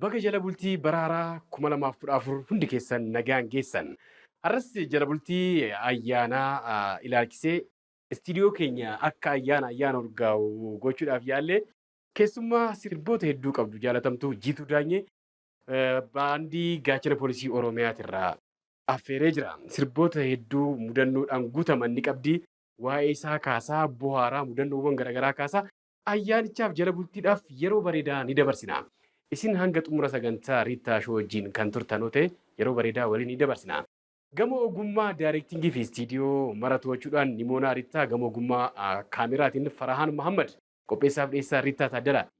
Baga jala bultii bara haaraa 2014 hundi keessan nagaan geessan. Har'as jala bultii ayyaanaa ilaalchisee istiidiyoo keenya akka ayyaana ayyaana urgaa'u gochuudhaaf yaalle keessummaa sirboota hedduu qabdu jaalatamtuu Jiituu Daanyee baandii gaachana poolisii Oromiyaatirraa affeeree jira. Sirboota hedduu mudannoodhaan guutaman ni qabdi. Waa'ee isaa kaasaa, bohaaraa, mudannoowwan garaagaraa kaasaa Ayyaanichaaf jala bultiidhaaf yeroo bareedaa ni dabarsina. Isin hanga xumura sagantaa Riittaa Show wajjin kan turtan yoo ta'e yeroo bareedaa waliin ni dabarsina. Gamoo ogummaa Daareektingii fi Istiidiyoo mara to'achuudhaan Nimoonaa Riittaa gamoo ogummaa Kaameraatiin Farahaan Mahaammad Qopheessaaf dhiyeessaa Riittaa Taaddalaati.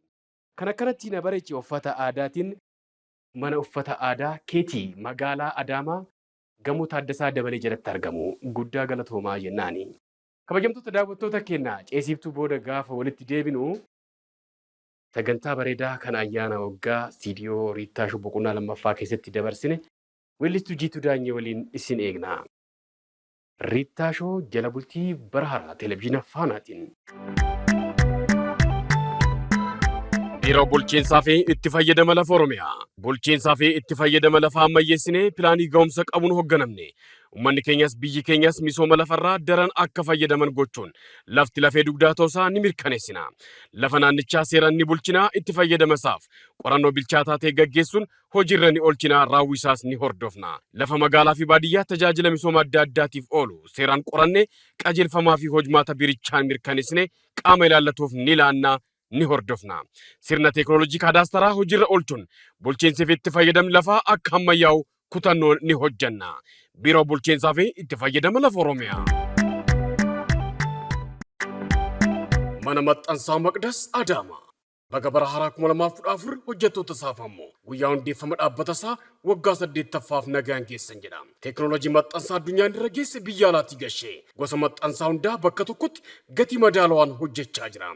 Kan akkanatti na bareeche uffata aadaatiin. Mana uffata aadaa Keetii magaalaa Adaamaa gamoo Taaddasaa Dabalee jalatti argamu. Guddaa galatoomaa jennaani. Kabajamtoota daawwattoota keenya ceesiiftuu booda gaafa walitti deebinu sagantaa bareedaa kan ayyaana waggaa istiidiyoo Riittaa Shuu boqonnaa lammaffaa keessatti dabarsine weellistuu Jiituu Daanyee waliin isin eegna. Riittaa Shoo jala bultii bara haaraa televizyiina Faanaatiin. Biiroo Bulchiinsaa fi Itti Fayyadama Lafa Oromiyaa. Bulchiinsaa fi itti fayyadama lafaa ammayyeessinee pilaanii ga'umsa qabuun hoogganamne Ummanni keenyas biyyi keenyas misooma lafarraa daran akka fayyadaman gochuun lafti lafee dugdaa ta'usaa ni mirkaneessina. Lafa naannichaa seeraan ni bulchina, itti fayyadamasaaf qorannoo bilchaataa ta'e gaggeessuun hojiirra ni oolchina, raawwiisaas ni hordofna. Lafa magaalaafi baadiyyaa tajaajila misooma adda addaatiif oolu seeraan qorannee qajeelfamaafi hojmaata biirichaan mirkaneessinee qaama ilaallatuuf ni laanna, ni hordofna. Sirna teeknooloojii kaadaastaraa hojiirra oolchuun bulchiinsi fi itti fayyadamni lafaa akka hammayyaa'u kutannoon ni hojjanna. Biiroo Bulchiinsaa fi Itti Fayyadama Lafa Oromiyaa. Mana Maxxansaa Maqdas Adaamaa. Baga bara haaraa 2014 hojjettoota isaaf ammoo guyyaa hundeeffama dhaabbata isaa Waggaa 8ffaaf nagaan geessan jedha. Teeknooloojii maxxansaa addunyaan irra geesse biyya alaatii gashee gosa maxxansaa hundaa bakka tokkotti gatii madaalawaan hojjechaa jira.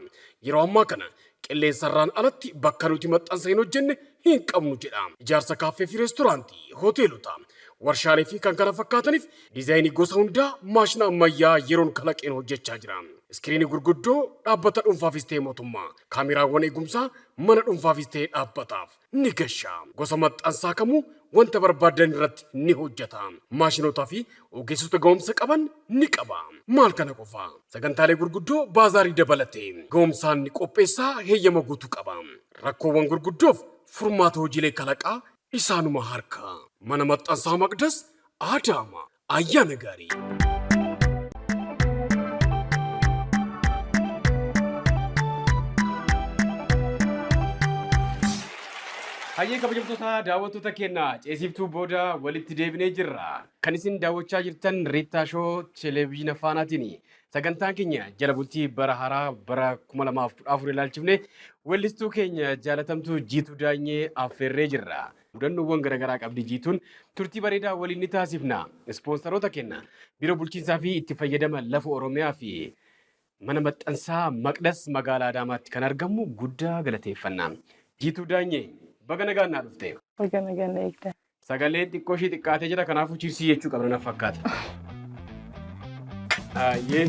Yeroo ammaa kana qilleensarraan alatti bakka nuti maxxansa hin hojjenne hin qabnu jedha. Ijaarsa kaaffee fi reestooraantii, hoteelota, warshaalee fi kan kana fakkaataniif diizaayinii gosa hundaa maashina ammayyaa yeroon kalaqeen hojjechaa jira. Iskiriinii gurguddoo dhaabbata dhuunfaafis ta'e mootummaa, kaameraawwan eegumsaa mana dhuunfaafis ta'e dhaabbataaf, ni gasha. Gosa maxxansaa kamuu wanta barbaaddan irratti ni hojjata. Maashinootaa fi ogeessota ga'umsa qaban ni qaba. Maal kana qofa, sagantaalee gurguddoo baazaarii dabalatee ga'umsaan ni qopheessa, heeyyama guutuu qaba. Rakkoowwan gurguddoof furmaata hojiilee kalaqaa isaanuma harkaa. Mana Maxxansaa Maqdas, Adaama, Ayyaana gaarii! Hayyee kabajamtoota daawwattoota keenya ceesiftuu booda walitti deebinee jirra. Kan isin daawwachaa jirtan Riittaa Shoo Televiziina Faanaatiin. Sagantaan keenya jala bultii bara haaraa bara 2014 ilaalchifne weellistuu keenya jaalatamtuu Jiituu Daanyee affeerree jirra. Mudannoowwan garagaraa qabdi jiituun turtii bareedaa waliin ni taasifna. Ispoonsaroota kenna Biiroo Bulchiinsaa fi Itti Fayyadama Lafa Oromiyaa fi Mana Maxxansaa Maqdas Magaalaa Adaamaatti kan argamu guddaa galateeffanna. Jiituu Daanyee, baga nagaan naa dhufte. Baga nagaan na eegdan. Sagaleen xiqqoo ishee xiqqaatee jira kanaafuu chiirsii jechuu qabna na fakkaata. Ayyee.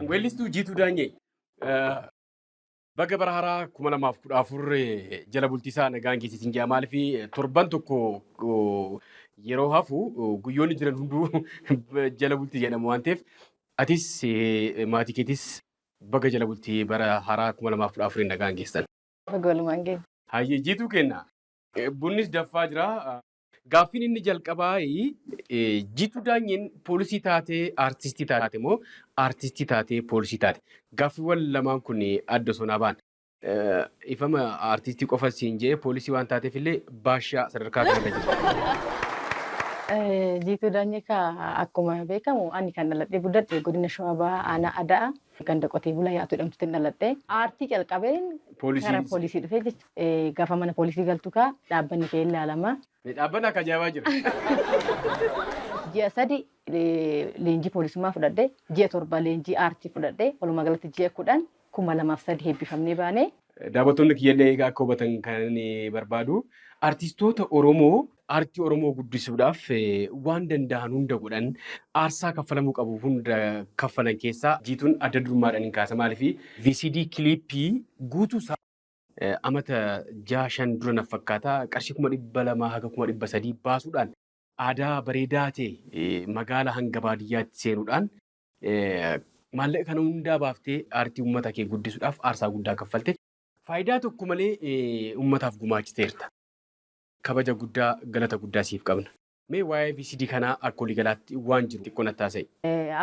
Weellistuu Jiituu Daanyee. Baga bara haraa 2014 jala bultiisaa nagaan geesse isin jaa maaliif torban tokko yeroo hafu guyyoonni jiran hunduu jala bultii jedhamu waan ta'eef atis maatii keetis baga jala bultii bara haraa 2014 nagaan geessan. Baga walumaan geesse. Hayyee jiituu kenna bunnis daffaa jira. Gaaffiin inni jalqabaa Jiituu Daanyeen poolisii taatee aartistii taate moo aartistii taatee poolisii taate? Gaaffiiwwan lamaan kun adda osoo naa ba'an. Dhiifama aartistii qofa siin je'ee poolisii waan taateef illee baashaa sadarkaa kanarra jirti. Jiituu Daanyee kaa akkuma beekamu ani kan dhaladhee guddadhe Godina Shawaa Bahaa Aanaa Ada'aa ganda Qotee Bulaa Yaa'atuu jedhamtutin dhaladhe. Aartii calqabeen gara poolisii dhufe jechuudha. Gafa mana poolisii galtu kaa dhaabbanni kee ilaalama. Dhaabbanni akka ajaa'ibaa jira. Ji'a sadi leenjii poolisummaa fudhadhe, ji'a torba leenjii aartii fudhadhe, walumaa galatti ji'a kudhan kuma lamaaf sadii eebbifamnee baane. Daawwattoonni kiyyallee egaa akka hubatan kanan barbaadu artistoota Oromoo aartii Oromoo guddisuudhaaf waan danda'an hunda godhan aarsaa kaffalamuu qabu hunda kaffalan keessaa Jiituun adda durummaadhaan hin kaasa maaliif VCD kiliippii guutuu isaa Amata jaha shan dura naf fakkaata qarshii kuma dhibba lamaa haga kuma dhibba sadii baasuudhaan aadaa bareedaa ta'e magaala hanga baadiyyaatti seenuudhaan maallaqa kana hundaa baaftee aartii uummata kee guddisuudhaaf aarsaa guddaa kaffalte. Faayidaa tokko malee uummataaf gumaachiteerta. Kabaja guddaa, galata guddaa siif qabna. Mee waa'ee VCD kanaa akka waliigalaatti waan jiru xiqqoo natti haasa'i.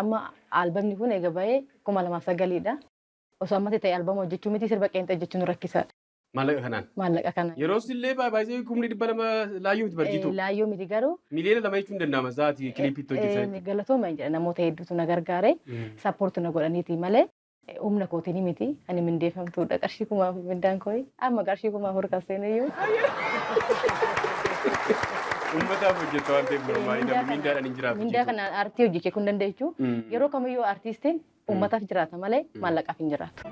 Amma albamni kun eega bahee kuma lamaa fi sagalii dha. Osoo ammati ta'e albama hojjechuu miti sirba qeenxee hojjechuun rakkisaadha. Maallaqa kanaan. Maallaqa kanaan. Yeroo illee baay'ee kumni dhibba lama laayyoo miti barjiitu. Laayyoo miti garuu. Miliyoona lama jechuun danda'ama sa'aatii kiliipiitti hojjetan. Galatooma jedha namoota hedduutu na gargaare sappoorti na godhaniiti malee humna kootiin miti ani mindeeffamtuudha qarshii kuma afur mindaan kooyi amma qarshii kuma afur kan seeneyyuu. Uummataaf hojjeta waan ta'eef normaaliidha. Mindaadhaan hin jiraatu. Mindaa kanaan aartii hojjechuu kun dandeechu. Yeroo kamiyyuu aartiistiin Uummataaf jiraata malee maallaqaaf hin jiraatu.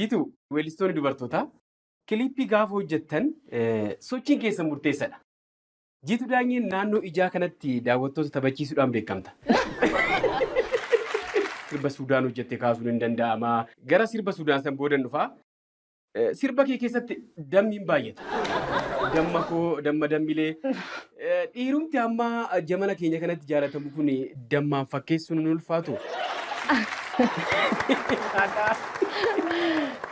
Jiituu, weellistoonni dubartootaa kiliippii gaafa hojjettan sochiin keessan murteessadha. Jiituu Daanyeen naannoo ijaa kanatti daawwattoota taphachiisuudhaan beekamta. Sirba Suudaan hojjette kaasuun hin danda'ama. Gara sirba Suudaan san boodan dhufa. Eh, Sirba kee keessatti dammiin baay'ata. Damma koo, damma dammilee. Eh, Dhiirumti amma jamana keenya kanatti jaalatamu kun dammaan fakkeessuun hin ulfaatu.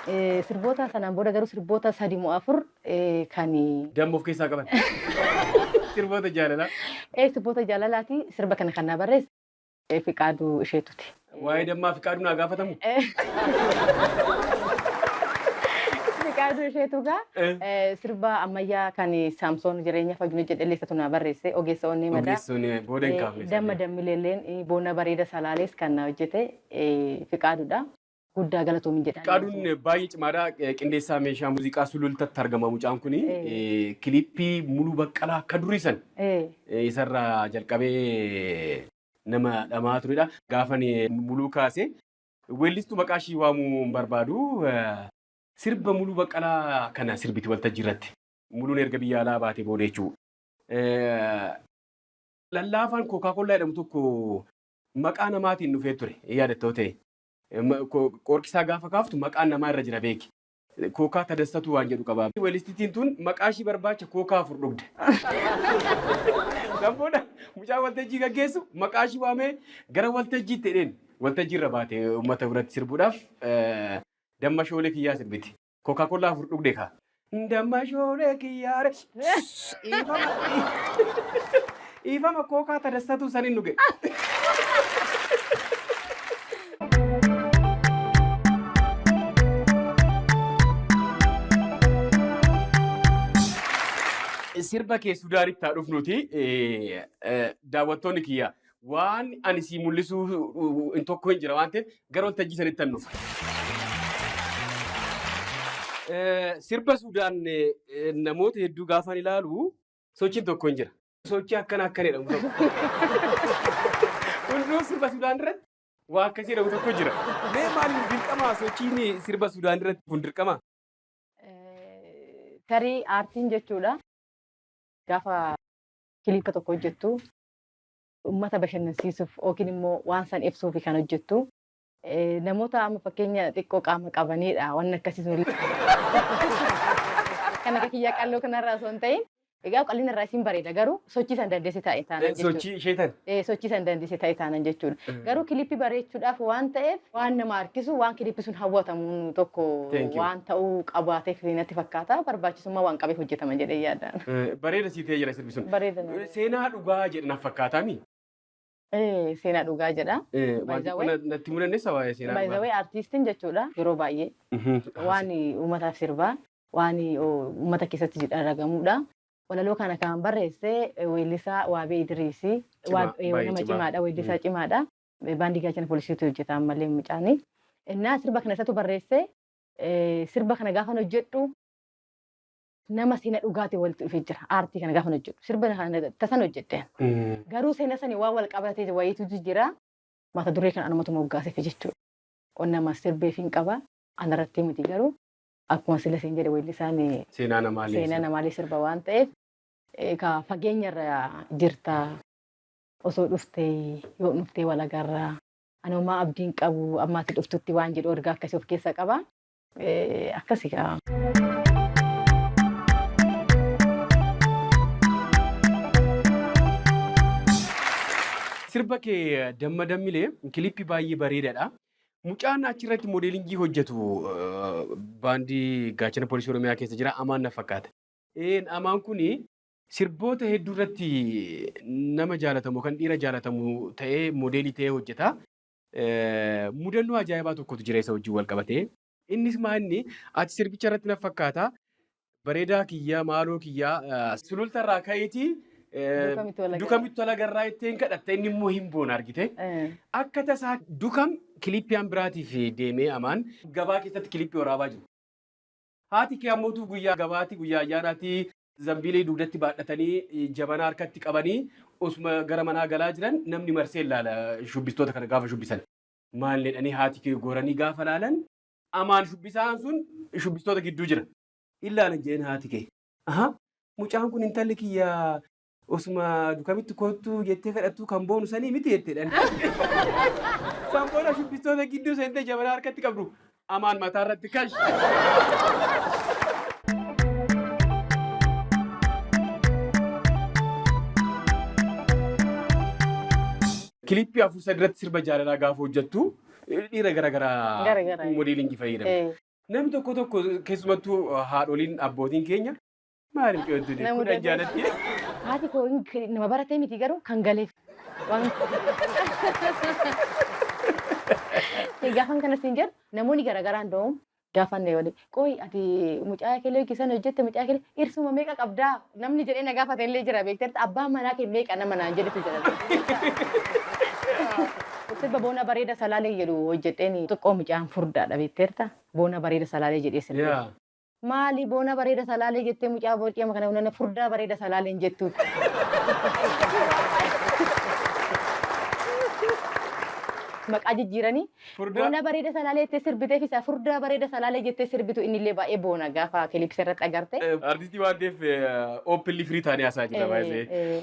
Eh, Sirboota sanaan booda garuu sirboota sadi moo afur eh, kan Damma of keessaa qaban. Sirboota jaalalaa. eh, sirboota jaalalaati sirba kana kan na barreesse. Eh, Fiqaaduu isheetuti. Waa'ee dammaa fiqaaduu naa gaafatamu. Eh. Fiqaaduu isheetu gaa Eh. eh, sirba ammayyaa kan Saamsoon jireenya fayyina jedhellee isatu naa barreesse ogeessa onnee madaa. Ogeessoon eh, booda hin Eh, kaafne. Damma dammileelleen eh, boona bareeda salaalees kan na hojjete eh, Fiqaaduudha. Guddaa galatoomi jedha. Fiqaaduun baay'ee cimaadha. Qindeessaa meeshaa muuziqaa Sulultatti argama mucaan kun. Kiliippii Muluu Baqqalaa akka durii san isarraa jalqabee nama dhama'aa turedha. Gaafan Muluu kaase weellistuu maqaa ishii waamuu hin barbaadu. Sirba Muluu Baqqalaa kana sirbiti waltajjii irratti. Muluun erga biyya alaa baatee booda jechuudha. Lallaafaan Kookaa Kollaa jedhamu tokko maqaa namaatiin dhufee ture yaadattoo ta'e. Em, ko- Qoorqisaa gaafa kaaftu maqaan namaa irra jira beeki. Kookaa tadassatuu waan jedhu qaba. Walistitiin tun maqaa ishii barbaacha kookaa afur dhugde. Kan booda mucaa waltajjii gaggeessu maqaa ishii waamee gara waltajjiitti jedheen. Waltajjii irra baate uummata biratti sirbuudhaaf eh, damma shoolee kiyyaa sirbiti. Coca Cola afur dhugde kaa. Damma shoolee kiyyaare. Dhiifama dhiifama kookaa tadassatu sanin dhuge. Sirba kee Sudaanitti haa dhufnuti daawwattoonni kiyya Waan ani sii mul'isuu hin tokko hin jira waan ta'eef gara waltajjii sanitti hin dhufa. Eh, Sirba Sudaan eh, eh, namoota hedduu gaafaan ilaalu sochiin tokko hin jira. Sochii akkana akkana jedhamu tokko. Hunduu sirba Sudaan irratti waa akkasii jedhamu tokko jira. Mee maaliif dirqama sochiin sirba Sudaan irratti kun dirqama? Eh, Tarii aartiin jechuudha. Gaafa kiliippa tokko hojjettu Ummata bashannansiisuuf yookiin immoo waan san ibsuufi kan hojjettu. Namoota amma fakkeenya xiqqoo qaama qabaniidha wanni akkasii sun. Kan akka kiyyaa qalloo kanarraa osoo hin ta'in egaa qalliin irraa isiin bareeda garuu sochii san dandeesse taa'e taanan jechuudha. Sochii ishee tan. Sochii san dandeesse taa'e taanan jechuudha. Garuu kilippii bareechuudhaaf waan ta'eef waan nama harkisu waan kilippi sun hawwatamu tokko waan ta'uu qabaateef natti fakkaata barbaachisummaa waan qabeef hojjetama jedhee yaada. Bareeda sii ta'ee jira. Sun Bareeda na. seenaa dhugaa jedhe na fakkaataa mi? Eh, Seenaa dhugaa jedha. Eh, By waan the xiqqoo way- na- natti himuu dandeessa waa'ee seenaa By the dhugaa? way artiistiin jechuudha yeroo baay'ee Mhm. waan uummataaf sirbaa waan uummata keessatti dhagahamuudha. Walaloo kana kan barreesse weellisaa Waabee Idiriisi. Cimaa, Waab- eh, baay'ee Nama cimaa. cimaadha, weellisaa Mm. cimaadha. Eh, Baandii gaachana poolisiitu hojjeta ammallee mucaani. Innaa sirba kana isatu barreesse eh, sirba kana gaafan hojjedhu nama sena dhugaati walitti dhufe jira aartii kana gaafan hojjedhu sirba kana tasan hojjedhe garuu sena sani waan wal qabatee wayiitu jira mata duree kan anumatu moggaaseef jechuudha onnama sirbeef hin qaba anarratti miti garuu akkuma sila siin jedhe weellisaan Seenaa namaalee. seenaa namaalee sirba waan ta'eef egaa fageenyarra jirta osoo dhuftee yoo dhuftee walagarra anoomaa abdiin qabu ammaatti dhuftutti waan jedhu ergaa akkasii of keessa qaba akkasi kaa. Sirba kee damma dammilee kilippi baay'ee bareedaadha. Mucaan achirratti moodeelingii hojjetu eh, baandii gaachana poolisii Oromiyaa keessa jira amaan na fakkaata. Een amaan kuni sirboota hedduu irratti nama jaalatamu kan dhiira jaalatamu ta'ee moodeelii ta'ee hojjeta. Mudannoo ajaa'ibaa tokkotu jira isa wajjin wal qabate. Innis maa inni ati sirbicha irratti na fakkaata bareedaa kiyyaa maaloo kiyyaa sululta irraa ka'iitii dukamitti tola garraa ittiin kadhatta inni immoo hin boona argite. Akka tasaa dukam kilippiyaan biraatiif deemee amaan gabaa keessatti kilippii waraabaa jiru. Haati kee ammootuu guyyaa gabaati, guyyaa ayyaanaati. Zambiilii dugdatti baadhatanii, jabanaa harkatti qabanii osuma gara manaa galaa jiran namni marsee laala shubbistoota kana gaafa shubbisan. Maal jedhanii haati kee goranii gaafa laalan Amaan shubbisaan sun shubbistoota gidduu jira. Hin laalan jedheen haati kee. Ahaa! Mucaan kun intalli kiyya Osuma dukamitti koottuu jettee kadhattuu kan boonu sanii miti jetteedhan. San booda shubbistoota gidduu seentee jabanaa harkatti qabdu amaan mataa irratti kash. Kilippii afur sadi irratti sirba jaalalaa gaafa hojjettu dhiira gara garaa Garagaraa. modeelingii fayyadamu. Eh, Namni tokko tokko keessumattuu haadholiin abbootiin keenya Maaliif coottu Na kun mudatee. ajjaalatti. Haati koo hin- kan- nama baratee miti garuu kan galeef. Waan- Gaafan kanas hin jedhu namoonni garaagaraa hunda'uun gaafan na waliin qooyi ati mucaa keelee yookiin sana hojjette mucaa keelee irsuma meeqa qabdaa namni jedhee na gaafate illee jira beekteerta abbaan manaa kee meeqa nama naan jedhetu jira. Sirba boona bareeda salaalee jedhu hojjedheen xiqqoo mucaan furdaadha beekteerta boona bareeda salaalee jedhee sirbe. Yaa. Maali boona bareeda salaalee jettee mucaa boorcii amma kana hunana furdaa bareeda salaaleen jettuutti. Maqaa jijjiiranii Furdaa. boona bareeda salaalee jettee sirbiteef isaa furdaa bareeda salaalee jettee sirbitu inni illee baay'ee boona gaafa kilipsi irratti agarte. Artistii waan ta'eef oopilli firii taanee hasaa jira baay'ee. Eh, eh.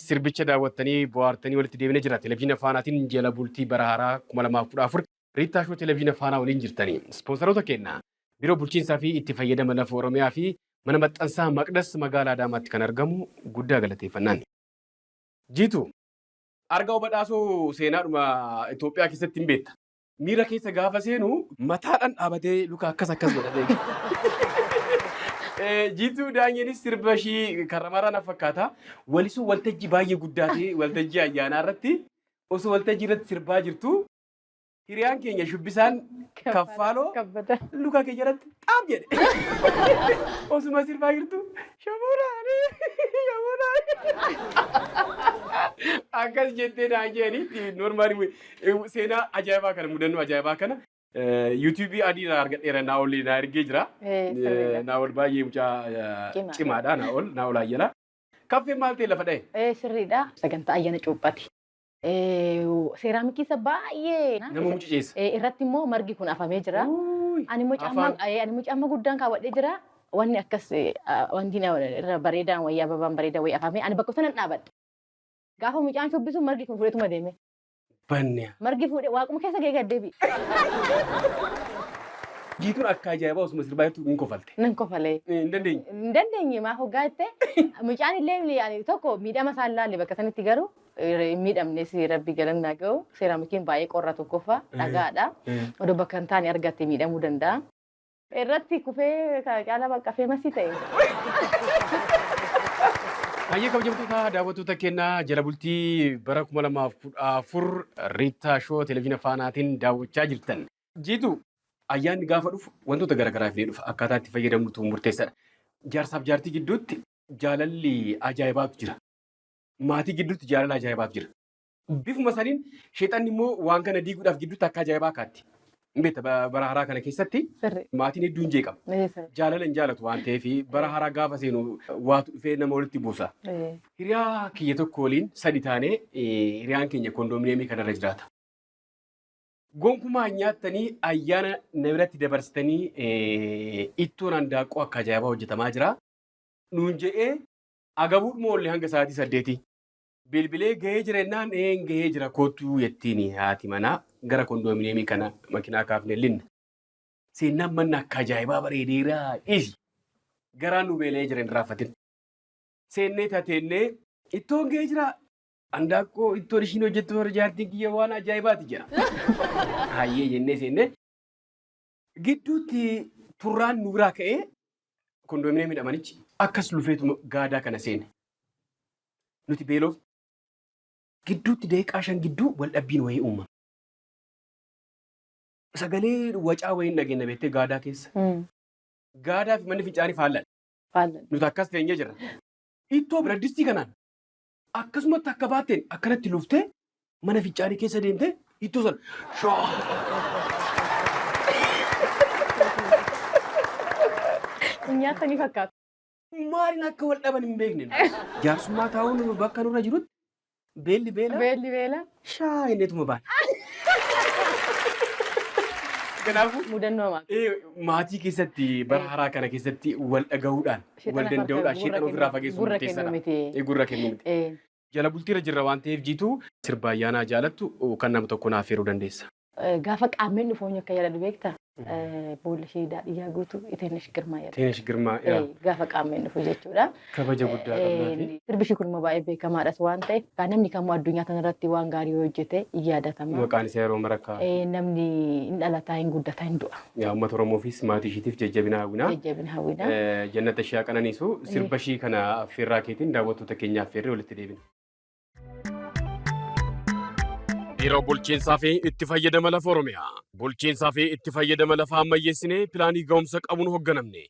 Sirbicha daawwattanii bohaartanii walitti deebine jira. Televizyina Faanaatiin jala bultii bara haaraa 2014 Riittaa Shoo Televizyina Faanaa waliin jirtani. Ispoonsaroota keenna, Biiroo Bulchiinsaa fi Itti Fayyadama Lafa Oromiyaa fi Mana Maxxansaa Maqdas Magaalaa Adaamaatti kan argamu guddaa galateeffannaan. Jiituu! Argaw Badhaasoo seenaadhuma Itoophiyaa keessatti hin beekta. Miira keessa gaafa seenu mataadhaan dhaabatee luka akkas akkas godhatee. Eh, Jiituu Daanyenis sirba ishii karramaraa na fakkaata. Walisuu waltajjii baay'ee guddaa ta'e waltajjii ayyaanaa irratti osoo waltajjii irratti sirbaa jirtu hiriyaan keenya shubbisaan kaffaaloo Kabbata. luka kee jalatti xaab jedhe. Osuma sirbaa jirtu shamuuraanii shamuuraanii. Akkas jettee naan jedhanii normaali Ewu seenaa ajaa'ibaa kana mudannoo ajaa'ibaa kana YouTube adii irraa argadheera Naa'ol naa ergee jira. Eh, sirriidha. Naa'ol baay'ee mucaa Cimaadha. cimaadha Naa'ol Naa'ol Ayyala. Kaffeen maal ta'e lafa dha'e? Eh, sirriidha. Sagantaa ayyaana cuuphaati. Eh, seeraamikii isa baay'ee Nama mucuceessa. Eh, irratti immoo margi kun afamee jira. Uuy, Ani immoo caammaa afaan. eh, ani immoo caammaa guddaan kaawwadhee jira. Wanni akkas eh, ah, wanti na- irra bareedaan wayyaa babaan bareedaa wayii afamee ani bakka sanan dhaabadhe. Gaafa mucaan shubbisu margi kun fudhatuma deeme. banne. Margi fuudhe waaquma keessa gee gaddeebi. Jiituun akka ajaa'ibaa osuma sirbaa jirtu hin kofalte. Nan kofalee. Hin dandeenye. Hin dandeenye maa hoggaa jettee mucaan illee ni- ani tokko miidhama isaan laalle bakka sanitti garuu eh, hin miidhamne si rabbi galannaa ga'u seeraamikiin baay'ee qorra tokkoffaa dhagaadha. Odoo bakka hin taane argatte miidhamuu danda'a. Irratti kufee ka- caalaa bakka feemasii ta'e. Hayyee kabajamtoota daawwattoota keenya jala bultii bara 2014 Riittaa Shoo Televiziina Faanaatiin daawwachaa jirtan. Jiitu ayyaanni gaafa dhufu wantoota garaagaraa fidee dhufa akkaataa itti fayyadamnutu murteessaadha. Jaarsaaf jaartii gidduutti jaalalli ajaa'ibaatu jira. Maatii gidduutti jaalala ajaa'ibaatu jira. Bifuma saniin sheexanni immoo waan kana diiguudhaaf gidduutti akka ajaa'ibaa kaatti. Hin beekta ba- bara haraa kana keessatti Sirri. maatiin hedduun jeeqama. Ee, sirri. Jaalala hin jaalatu waan ta'eef bara haraa gaafa seenu waatu dhufee nama walitti buusa. Ee. Hiriyaa kiyya tokko waliin sadi taanee eh, hiriyaan keenya kondominiyeemii kanarra jiraata. Gonkumaa hin nyaattanii ayyaana na biratti dabarsitanii eh, ittoon handaaqqoo akka ajaa'ibaa hojjetamaa jira. Nuun je'ee agabuudhuma oolle hanga sa'aatii saddeetii. Bilbilee gahee jira jennaan een gahee jira kottuu jettiini haati manaa gara kondoominiyeemii kana makinaa kaafne linna. Seennaan manna akka ajaa'ibaa bareedeeraa dhiisi. Garaan nu beela'ee jira hin irraanfatin. Seennee tateennee. Ittoon gahee jiraa? Andaaqqoo ittoon ishiin hojjettu warra jaartiin kiyya waan ajaa'ibaati jedha. Hayyee jennee seennee. Gidduutti turraan nu biraa ka'ee kondoominiyeemii dhamanichi akkas lufeetuma gaadaa kana seene. Nuti beeloof gidduutti daqiiqaa shan gidduu wal dhabbiin wayii uumame. Sagalee wacaa wayiin dhageenya beektee gaadaa keessa. Gaadaa fi manni fincaanii faalladha. Faalladha. Nuti akkas teenyee jirra. Ittoo biraddistii kanaan Akkasumatti akka baatteen akkanatti luftee mana fincaanii keessa deemtee hittoo sana shaa. Hin nyaatanii fakkaatu. Maaliin akka wal dhaban hin beekne. Jaarsummaa taa'uun bakka nurra jirutti beelli beela Beelli beela. shaa inneetuma baana. Kanaafuu Mudannoo maal? eh, maatii keessatti bara haraa kana keessatti wal dhagahuudhaan wal danda'uudhaan sheexana ofirraa fageessu murteessaadha. Gurra kennuu miti. Jala bultiirra jirra waan ta'eef jiituu sirba ayyaanaa jaalattu kan nama tokko naaf feeruu dandeessa. Gaafa qaammeen dhufu eenyu akka yaadadhu beektaa? Boolla ishee daadhii yaa guutu Iteenesh Girmaa yaadadha. Iteenesh Girmaa yaa. Gaafa qaammeen dhufu jechuudha. Kabaja guddaa qabnaafi. Sirbi ishii kun immoo baay'ee beekamaadhas waan ta'eef kan namni kamuu addunyaa kanarratti waan gaarii yoo hojjete in yaadatama. Maqaan isaa yeroo mara ka'a. Namni in dhalataa, in guddataa, in du'a. Yaa uummata Oromoofiis maatii ishiitiif jajjabina hawwina. Jajjabina hawwina. Jannata ishee haa qananiisu. Sirba ishii kana affeerraa keetiin daawwattoota keenya affeerree walitti deebina. Biiroo Bulchiinsaa fi Itti Fayyadama Lafa Oromiyaa. Bulchiinsaa fi itti fayyadama lafaa ammayyeessinee pilaanii ga'umsa qabuun hoogganamne.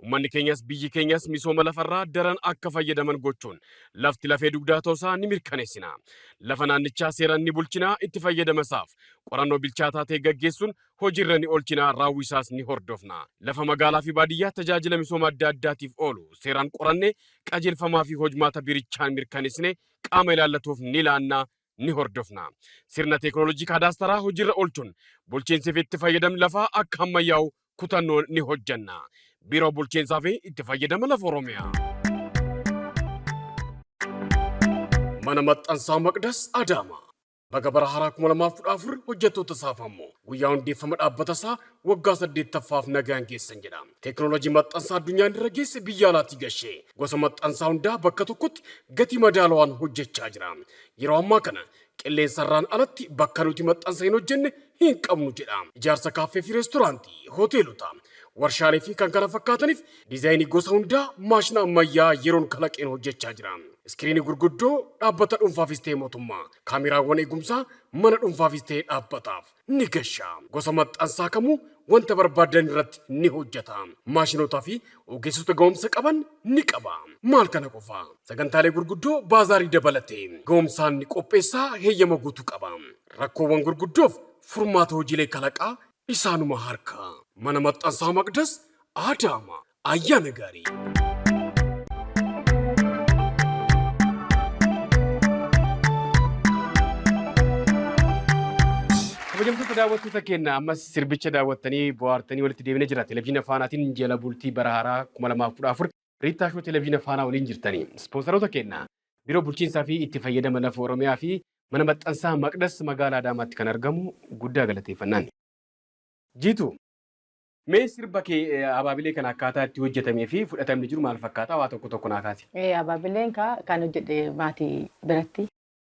Uummanni keenyas biyyi keenyas misooma lafarraa daran akka fayyadaman gochuun lafti lafee dugdaa ta'uusaa ni mirkaneessina. Lafa naannichaa seeraan ni bulchina, itti fayyadama isaaf qorannoo bilchaataa ta'e gaggeessuun hojiirra ni oolchina, raawwii isaas ni hordofna. Lafa magaalaa fi baadiyyaa tajaajila misooma adda addaatiif oolu seeraan qoranne, qajeelfamaa fi hojmaata biirichaan mirkaneessine qaama ilaallatuuf ni laanna, ni hordofna. Sirna teeknooloojii kaadaastaraa hojiirra oolchuun bulchiinsi fi itti fayyadamni lafaa akka hammayyaa'u kutannoon ni hojjenna. Biiroo Bulchiinsaa fi Itti Fayyadama Lafa Oromiyaa. Mana Maxxansaa Maqdas Adaamaa. Baga bara haaraa 2014 hojjettoota isaaf ammoo guyyaa hundeeffama dhaabbata isaa waggaa 8ffaaf nagaan geessan jedha. Teeknooloojii maxxansaa addunyaan irra geesse biyya alaatii gashee gosa maxxansaa hundaa bakka tokkotti gatii madaalawaan hojjechaa jira. Yeroo ammaa kana qilleensarraan alatti bakka nuti maxxansa hin hojjenne hin qabnu jedha. Ijaarsa kaaffee fi reestoraantii, hoteelota, warshaalee fi kan kana fakkaataniif diizaayinii gosa hundaa maashina ammayyaa yeroon kalaqeen hojjechaa jira. Iskiriinii gurguddoo dhaabbata dhuunfaafis ta'e mootummaa, kaameraawwan eegumsaa mana dhuunfaafis ta'e dhaabbataaf ni gasha. Gosa maxxansaa kamuu wanta barbaaddan irratti ni hojjeta. Maashinootaa fi Ogeessota ga'umsa qaban ni qaba. Maal kana qofa, sagantaalee gurguddoo baazaarii dabalatee ga'umsaan ni qopheessa, heeyyama guutuu qaba. Rakkoowwan gurguddoof furmaata hojiilee kalaqaa isaanuma harka. Mana Maxxansaa Maqdas, Adaama. Ayyaana Gaarii! Kabajamtoota daawwattoota keenya ammas Sirbicha daawwattanii bohaartanii walitti deebine jira. Televizyiina Faanaatiin jala bultii bara haaraa 2014 Riittaa Shoo Televizyiina Faanaa waliin jirtanii. Ispoonsaroota keenna, Biiroo Bulchiinsaa fi Itti Fayyadama Lafa Oromiyaa fi Mana Maxxansaa Maqdas Magaalaa Adaamaatti kan argamu guddaa galateeffannaan. Jiitu, mee sirba kee Abaabilee kana akkaataa itti hojjetamee fi fudhatamni jiru maal fakkaata? Waa tokko tokko naa kaasi. Abaabileen kaa kan hojjedhe maatii biratti,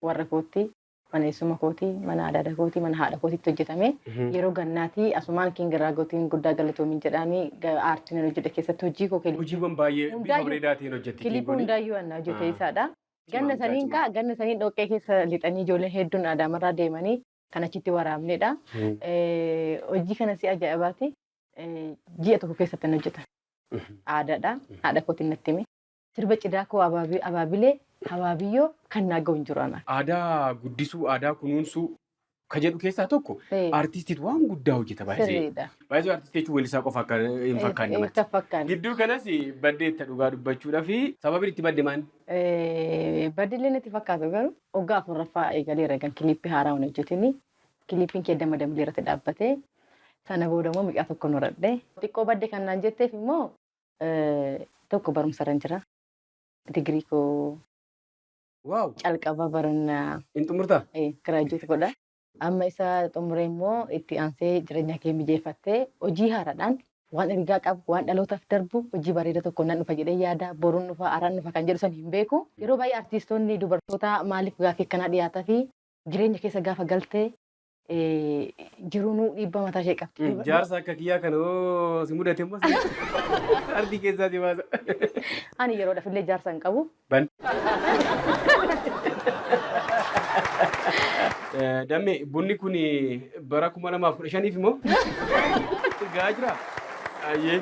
warra kootti. Mana eessuma kootii, mana adaada kootii, mana haadha kootiitti hojjetamee yeroo gannaatii asumaan King Raagotiin guddaa galatoomin jedhaanii aartiin ani hojjedhe keessatti hojii koo kiliipii. Hojiiwwan baay'ee bifa Hundaayyuu- bareedaa ta'een hojjetti King Kiliipii kuni. hundaayyuu anna hojjete Ah. isaadha. Cimaa Ganna mucaa saniin cimaa. kaa ganna saniin dhoqqee keessa lixanii ijoolleen hedduun aadaamarraa deemanii kan achitti waraabnedha. Mhm. Eh, Hojii kana si ajaa'ibaati. Eh, Ji'a tokko keessatti hin hojjetan. Mhm. Aadaadha. Haadha kootiin natti hime. Sirba Cidhaa koo Abaabii Abaabilee Habaabiyyoo kan naa gahu hin jiru anaa. Aadaa guddisuu, aadaa kunuunsuu ka jedhu keessaa tokko Ee. artiistiitu waan guddaa hojjeta baay'ee. Sirriidha. Baay'ee artiistii jechuun weellisaa qofa akka hin fakkaanne Hin namatti. fakkaanne. Gidduu kanas baddeetta dhugaa dubbachuudhaa fi sababiin itti badde maal? Eh, Badillee natti fakkaatu garuu waggaa afurraffaa eegaleera egan kiliippii haaraa hin hojjetini. Kiliippiin kee damma dambii irratti dhaabbatee sana booda immoo mucaa tokko horadhe. Xiqqoo badde kan naan jetteef immoo Tokko barumsa irran jira. Digirii koo Waaw! calqaba barana Hin xumurtaa? eh, graduate godha. Amma isa xumuree immoo itti aansee jireenya kee mijeeffattee hojii haaraadhaan waan ergaa qabu, waan dhalootaaf darbu, hojii bareeda tokko nan dhufa jedhee yaada, boruun dhufa, araan dhufa kan jedhu san hin beeku. Yeroo baay'ee artiistoonni dubartoota maaliif gaaffii akkanaa dhiyaata fi jireenya keessa gaafa galte Jirunuu dhiibbaa mataa ishee qabdi. Jaarsa akka kiyyaa kana yoo si mudate immoo ardii keessaa si baasa. Ani yeroodhaaf illee jaarsa hin qabu. Ban. Damme bunni kun bara kuma lamaaf kudha shaniif immoo gahaa jira. Ayyee.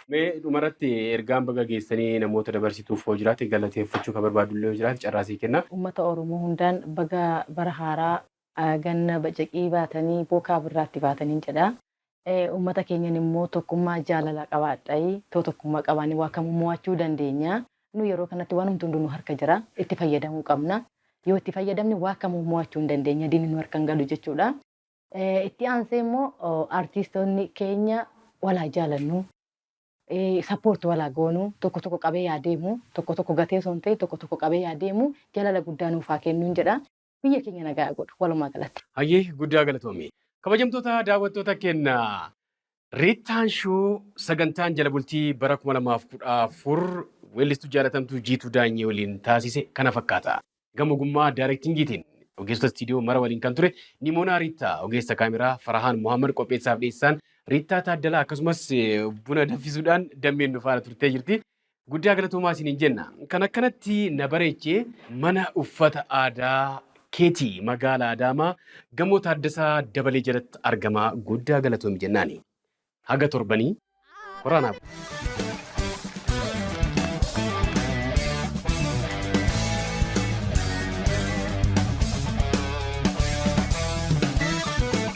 Mee dhumarratti ergaan baga geessanii namoota dabarsituuf hoo jiraate galateeffachuu kan barbaadu illee yoo jiraate carraa sii kenna. Ummata Oromoo hundaan baga bara haaraa ganna bacaqii baatanii bookaa birraatti baataniin jedha. Ummata keenyan immoo tokkummaa jaalalaa qabaadhai too tokkummaa qabaanne waa kamuu moo'achuu dandeenya. Nu yeroo kanatti waanumti hunduu nu harka jira. Itti fayyadamuu qabna. Yoo itti fayyadamne waa kamuu moo'achuu hin dandeenya. Diinni nu harka hin galu jechuudha. Itti aansee immoo artiistoonni keenya wal haa jaalannu, support wal haa goonu, tokko tokko qabee haa deemu, tokko tokko gatee osoo hin ta'iin tokko tokko qabee haa deemu, jaalala guddaa nuuf haa kennuun jedha. Biyya keenya nagaa haa godhu walumaa galatti. Hayyee guddaa galatoomi. Kabajamtoota daawwattoota keenna Riittaan Shoo sagantaan jala bultii bara 2014 weellistuu jaalatamtuu Jiituu Daanyee waliin taasise kana fakkaata. Gama ogummaa daayirektingiitiin ogeessota istiidiyoo mara waliin kan ture Nimoonaa Riittaa, ogeessa kaameraa Farahaan Mohaammad qopheessaaf dhiyeessaan Riittaa Taaddalaa akkasumas buna danfisuudhaan dammeen nu faana turtee jirti. Guddaa galatoomaa isiniin jenna. Kan akkanatti na bareeche mana uffata aadaa keeti magaala Adaamaa gamoo Taaddasaa Dabalee jalatti argama guddaa galatoomi jennaani. Haga torbanii horaa naa bulaa.